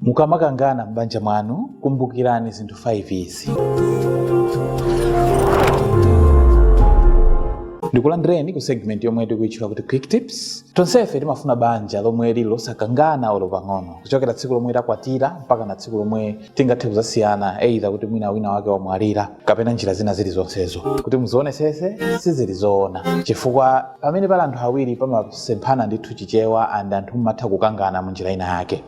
Mukamakangana m'banja mwanu, kumbukirani zinthu 5 izi. Ndikulandireni ku segment yomwe tikuitchula kuti Quick Tips. Tonsefe timafuna banja lomwe lili losakangana olo pang'ono, kuchokera tsiku lomwe takwatira mpaka na tsiku lomwe tingathe kuzasiyana, either kuti mwina wina wake wamwalira kapena njira zina zilizonsezo. Kuti muzionesese sizili zoona, chifukwa pamene pali anthu awiri pamasemphana ndithu Chichewa and anthu mmatha kukangana mu njira ina yake.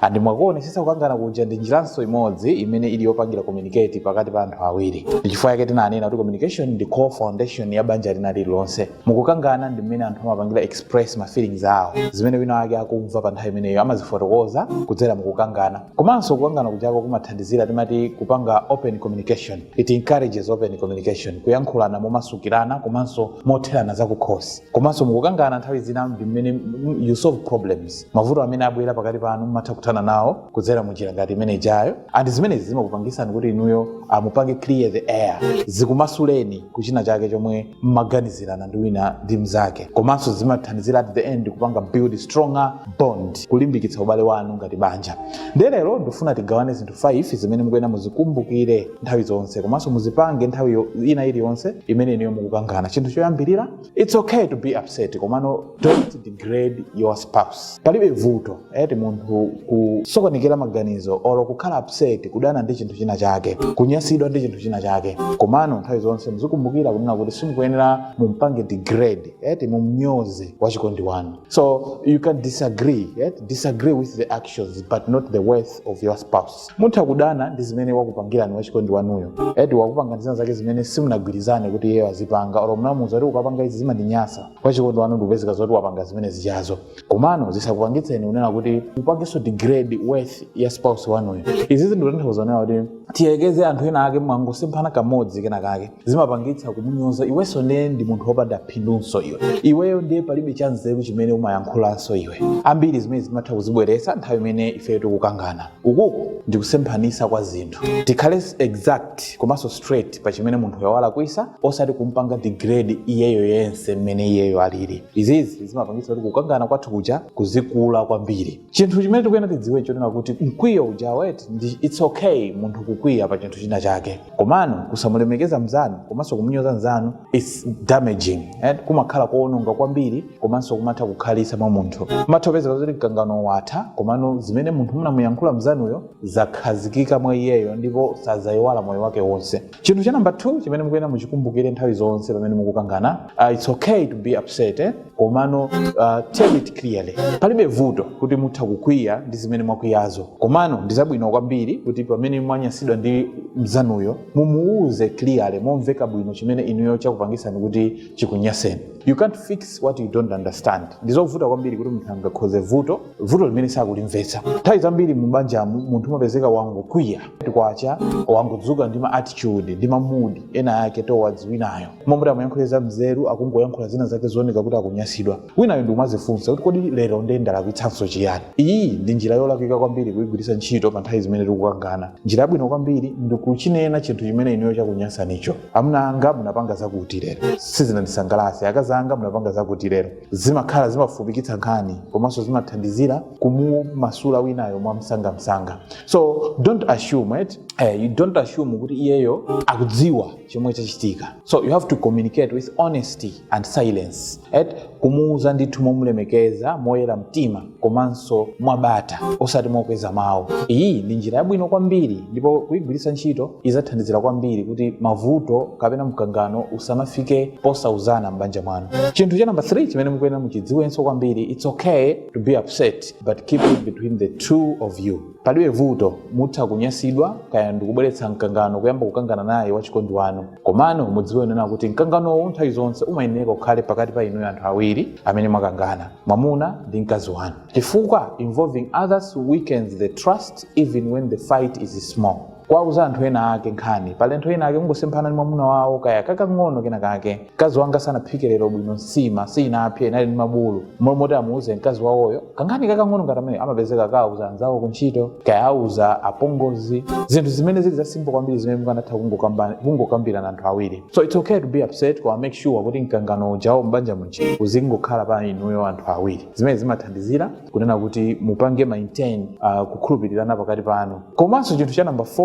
and mwakuonesesa kukangana kuja ndi njiranso imodzi imene ili yopangira communicate pakati pa anthu awiri ndichifukwa yake tinanena kuti communication ndi core foundation ya banja lina lililonse mukukangana ndi mmene anthu amapangira express ma feelings awo zimene wina wake akumva pa nthawi imeneyo amazifotokoza kudzera mukukangana komanso kukangana kujako kumathandizira tinati kupanga open communication it encourages open communication kuyankhulana momasukirana komanso motherana zakukhosi komanso mukukangana nthawi zina ndi mmene you solve problems mavuto amene abwera pakati panu mumatha kuthana nawo kudzera mu njira ngati imene ijayo and zimenezi zimakupangisani kuti inuyo mupange clear the air zikumasuleni kuchina chake chomwe mmaganizirana ndi wina ndi mnzake komanso zimathandizira at the end kupanga build stronger bond kulimbikitsa ubale wanu ngati banja ndiye lero ndifuna tigawane zinthu 5 zimene mukuyenera muzikumbukire nthawi zonse komanso muzipange nthawi ina iliyonse imene inuyo mukukangana chinthu choyambirira It's okay to be upset komano don't degrade your spouse. Palibe vuto eti munthu kusokonekera maganizo olo kukhala upset kudana ndi chinthu china chake kunyasidwa ndi chinthu china chake komano nthawi zonse muzikumbukira kunena kuti simukuyenera mumpange degrade eti mumnyoze wachikondi wanu so you can disagree eti disagree with the actions but not the worth of your spouse mutha kudana ndi zimene wakupangirani wachikondi wanuyo eti wakupangirani zina zake zimene simunagwirizane kuti iyeyo azipanga olo munamuuza kuti ukapanga izi zimandinyasa wachikondi wanu ndikupezeka zoti wapanga zimene zijazo komano zisakupangitseni kunena kuti mupangenso degrade worth ya spouse wanuyo izizi ndikutanthauza kunena kuti tiyekeze anthu ena ake mwangosemphana kamodzi kena kake zimapangitsa kumunyoza iwenso ndiye ndi munthu wopanda phindunso iwe iweyo ndiye palibe chanzeru chimene umayankhulanso iwe ambiri zimene zimatha kuzibweretsa nthawi imene ifeyo tikukangana ukuku ndi kusemphanisa kwa zinthu tikhale exact komanso straight pa chimene munthu uja walakwisa osati kumpanga degrade iyeyo yense mmene iyeyo alili izizi zimapangisa kuti kukangana kwathu kuja kuzikula kwambiri chinthu chimene tikuyena tidziwe chonena kuti mkwiyo uja eti its okay munthu kukwiya pa chinthu china chake komano kusamulemekeza mzanu komanso kumunyoza mzanu its damaging and kumakhala koononga kwambiri komanso kumatha kukhalitsa mwa munthu matha kupezeka zoti mkangano watha komano zimene munthu munamuyankhula mzanuyo zakhazikika mwa iyeyo ndipo sadzayiwala moyo wake wonse chinthu cha namba 2 chimene mukuyenera muchikumbukire nthawi zonse pamene mukukangana uh, it's okay to be upset eh? komano uh, tell it clearly palibe vuto kuti mutha kukwiya ndi zimene mwakwiyazo komano ndi zabwino kwambiri kuti pamene mwanyasidwa ndi mzanuyo mumuwuze clearly momveka bwino chimene inuyo chakupangisani kuti chikunyaseni You can't fix what you don't understand. Ndizovuta kwambiri kuti munthu angakonze vuto vuto limene sakulimvetsa. Nthawi zambiri mu banja munthu umapezeka wangokwiya kwacha wangodzuka ndi ma attitude ndi ma mood ena ake towards winayo. Momwe amayankhula za nzeru akungoyankhula zina zake zooneka kuti akunyasidwa. Winayo ndi umazifunsa kuti kodi lero ndiye ndalakwitsanso chiyani? Iyi ndi njira yolakwika kwambiri kuyigwiritsa ntchito pa nthawi zimene tikukangana. Njira yabwino kwambiri ndi kuchinena chinthu chimene inuyo chakunyasanicho. amuna anga munapanga zakuti lero sizinandisangalatse akazi anga munapanga zakuti lero zimakhala zimafupikitsa nkhani komanso zimathandizira kumumasula winayo mwamsangamsanga so don't assume eh, you don't assume kuti iyeyo akudziwa chomwe chachitika so you have to communicate with honesty and silence eti kumuuza ndithu momulemekeza moyera mtima komanso mwabata osati mokweza mawu iyi ndi njira yabwino kwambiri ndipo kuyigwiritsa ntchito izathandizira kwambiri kuti mavuto kapena mkangano usamafike posauzana m'banja mwanu chinthu cha namba 3 chimene mukuyenera muchidziwenso kwambiri its okay to be upset but keep it between the two of you palibe vuto mutha kunyasidwa kaya ndikubweretsa mkangano kuyamba kukangana naye wachikondi wanu Komano mudziwe kunena kuti mkanganowo nthawi zonse umayenereka ukhale pakati pa inuyo anthu awiri amene mwakangana, mwamuna ndi mkazi wanu, chifukwa involving others weakens the trust even when the fight is small. Kuwauza anthu ena ake nkhani pali anthu ena ake kungosemphana ndi mwamuna wawo kaya kakang'ono kena kake, mkazi wanga sanaphike lero bwino nsima siinapse inali ndi mibulu, mmalo moti amuuze mkazi wawoyo kankhani kakang'ono ngati ameneyo amapezeka akauza anzawo kuntchito kaya auza apongozi zinthu zimene zili zasimbo kwambiri zimene mukanatha kungokamba- kungokambirana anthu awiri so its okay to be upset koma make sure kuti mkangano ujawo m'banja muja uzingokhala pa inuyo anthu awiri zimene zimathandizira kunena kuti mupange maintain uh, kukhulupirirana pakati panu komanso chinthu cha number 4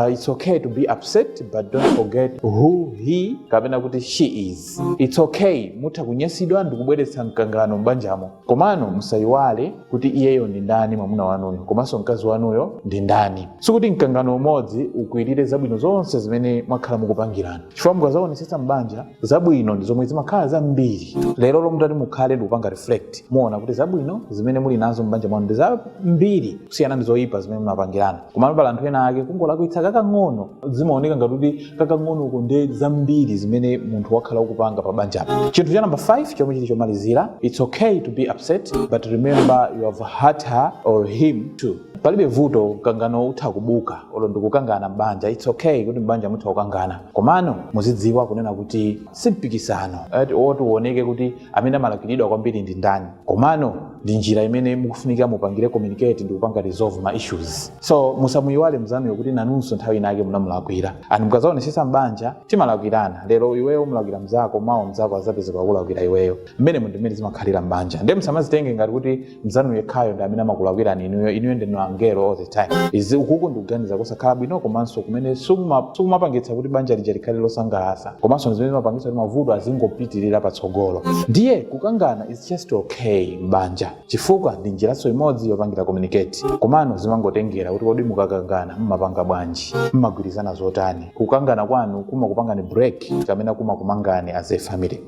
uh, its okay to be upset but don't forget who he kapena kuti she is its okay mutha kunyasidwa ndikubweretsa mkangano m'banjamo komano musayiwale kuti iyeyo ndi ndani mwamuna wanuyo komanso mkazi wanuyo ndi ndani sikuti mkangano umodzi ukwirire zabwino zonse zimene mwakhala mukupangirana chifukwa mukazaonetsetsa m'banja zabwino ndi zomwe zimakhala zambiri lero lomwe mutati mukhale ndikupanga reflect muona kuti zabwino zimene muli nazo m'banja mwanu ndi zambiri kusiyana ndi zoyipa zimene munapangirana komano pali anthu ena ake kungolakwitsa kakang'ono zimaoneka ngati kuti kakang'onoko ndi zambiri zimene munthu wakhala ukupanga pa banjapo chinthu cha namba 5 chomwe chili chomalizira its okay to be upset but remember you have hurt her or him too palibe vuto mkangano utha kubuka olo ndikukangana m'banja its okay kuti m'banja mutha kukangana komano muzidziwa kunena kuti si mpikisano oti uoneke kuti amene amalakwiridwa kwambiri ndi ndani komano ndi njira imene mukufunika mupangire communicate ndi kupanga resolve ma issues so musamuyiwale mzanuyo kuti nanunso nthawi inake munamulakwira and mukazaonesesa mbanja timalakwirana lero iweyo umulakwira mzako mawa mzako azapezeka kulakwira iweyo mmene ndi mmene zimakhalira mbanja nde musamazitenge ngati kuti mzanu yekhayo ndi amene amakulakwirani inuyo inuyo ndinu angelo all the time izi ukuku ndikuganiza kusakhala bwino komanso kumene sikumapangitsa kuti banja lija likhale losangalatsa komanso ndi zimene zimapangitsa kuti mavuto azingopitirira patsogolo ndiye kukangana is just okay m'banja chifukwa ndi njiraso imodzi yopangira communicate komano zimangotengera kuti kodi mukakangana mmapanga bwanji mmagwirizana zotani kukangana kwanu kumakupangani break kapena kumakumangani as a family